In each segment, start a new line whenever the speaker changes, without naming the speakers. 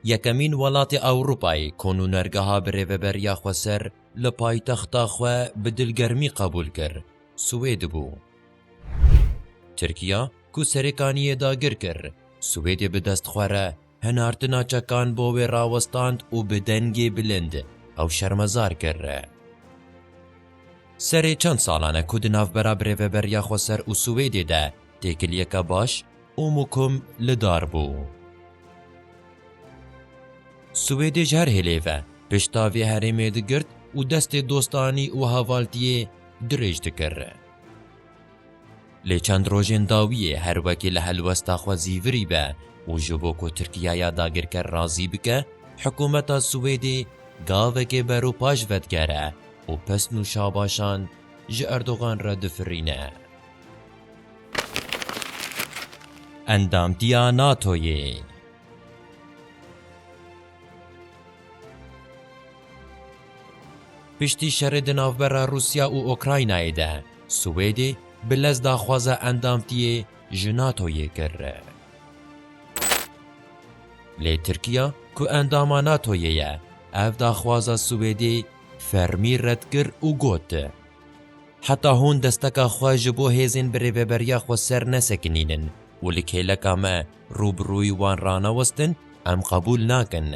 Yekemîn welatê Ewropayê ku nûnergeha birêveberiya xweser li paytexta xwe bi dilgermî qebûl kir, Swêd bû. Tirkiya ku serêkaniyê dagir kir, Swêdê bi dest xwe re hinartina çekan bo wê rawestand û bi dengê bilind ew şermezar kir. Serê çend salan e ku di navbera birêveberiya xweser û Swêdê de têkiliyeke baş û mukum li dar bû. Swêdê ji her hêlê ve pişta vê herêmê digirt û destê dostanî û havaltiyê dirêj dikir. Lê çend rojên dawiyê her wekî li helwesta xwe zîvirî be û ji bo ku Tirkiye ya dagirker razî bike, hikumeta Swêdê gavekê beropaş vedigere û pesn û şabaşan ji Erdogan re difirîne. Endamtiya NATO'yê. Piştî şerê di navbera Rûsya û Ûkraynayê de, Swêdê bi lez daxwaza endamtiyê ji NATO'yê kir. Lê Tirkiya ku endama NATO'yê ye, ev daxwaza Swêdê fermî red kir û got, Heta hûn desteka xwe ji bo hêzên bi rêveberiya xwe ser nesekinînin û li kêleka me rû bi rûyî wan ranewestin, em qebûl nakin.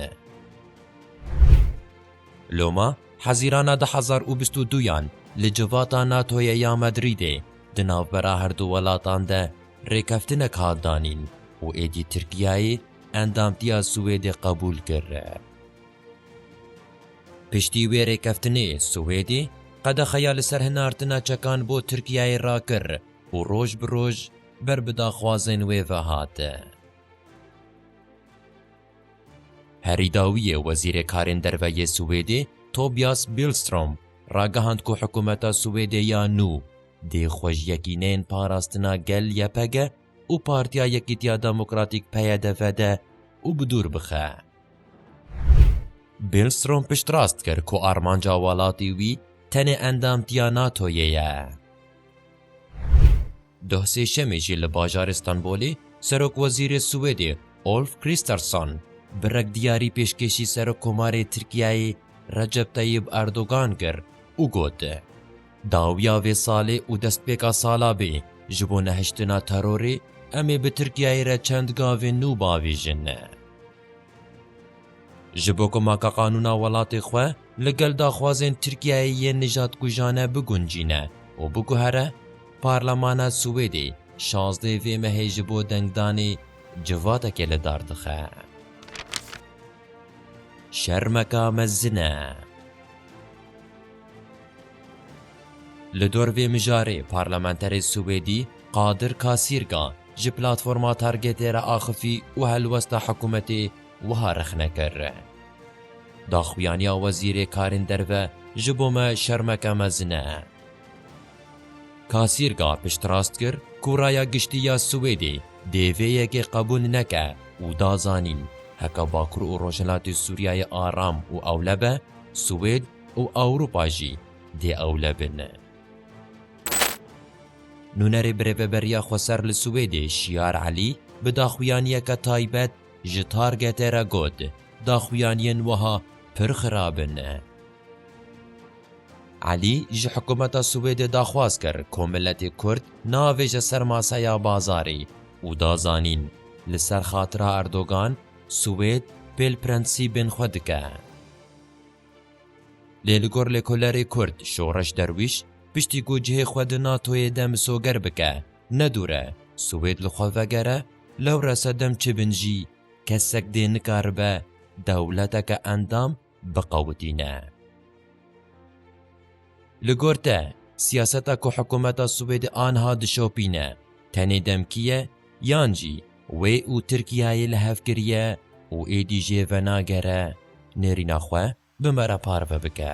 Loma Hezîrana du hezar û bîst û du yan li civata NATO'yê ya Madrîdê di navbera her du welatan de rêkeftinek hat danîn û êdî Tirkiyeyê endamtiya Swêdê qebûl kir. Piştî wê rêkeftinê, Swêdê qedexeya li ser hinartina çekan bo Tirkiyeyê rakir û roj bi roj ber bi daxwazên wê ve hat. Herî dawiyê Wezîrê Karên Derve yê Swêdê Tobias Billstrom ragihand ku hikûmeta Swêdê ya nû dê xwe ji yekîneyên parastina gel YPG û Partiya Yekîtiya Demokratîk PYD ve de û bi dûr bixe. Billstrom piştrast kir ku armanca welatê wî tenê endamtiya NATO'yê ye. Duh Sêşemê jî li bajarê Stenbolê Serokwezîrê Swêdê Ulf Kristersson bi rekdiyarî pêşkêşî Serokkomarê Tirkiyeyê Recep Tayyib Erdogan kir û got, Dawiya vê salê û destpêka sala bê, ji bo nehiştina terorê em ê bi Tirkiyeyê re çend gavên nû biavêjin. Ji bo ku makaqanûna welatê xwe li gel daxwazên Tirkiyeyê yên nijadkujane biguncîne û biguhere, Parlemana Swêdê şazdê vê mehê ji bo dengdanê civatekê li dar dixe. Şermeka mezin e. Li dor vê mijarê parlamenterê Swêdî Kadir Kasîrga ji platforma Targetê re axifî û helwesta hikûmetê wiha rexne kir, Daxuyaniya wezîrê karên derve ji bo me şermeke mezin e. Kasîrga piştrast kir ku raya giştî ya Swêdê dê vê yekê qebûl neke û da zanîn heke Bakur û Rojhilatê Sûriyeyê aram û ewle be, Swêd û Ewropa jî dê ewle bine. Nûnerê birêveberiya xweser li Swêdê Şiar Elî bi daxuyaniyeke taybet ji Targetê re got, Daxuyaniyên wiha pir xirab in. Elî ji hikûmeta Swêdê daxwaz kir ku miletê Kurd neavêje ser maseya bazarê û da zanîn, li ser xatira Erdogan, Swêd pêl prensîbên xwe dike. Lê li gor lêkolerê Kurd Şoreş Derwîş, piştî ku cihê xwe di NATO'yê de misoger bike, ne dûr e, Swêd li xwe vegere, lewre sedem çi bin jî, kesek dê nikaribe dewleteke endam biqewitîne. Li gor te, siyaseta ku hikûmeta Swêdê aniha dişopîne, tenê demkî ye, yan jî, Wê û Tirkiyeyê li hev kiriye û êdî jê venagere nêrîna xwe bi me re parve bike.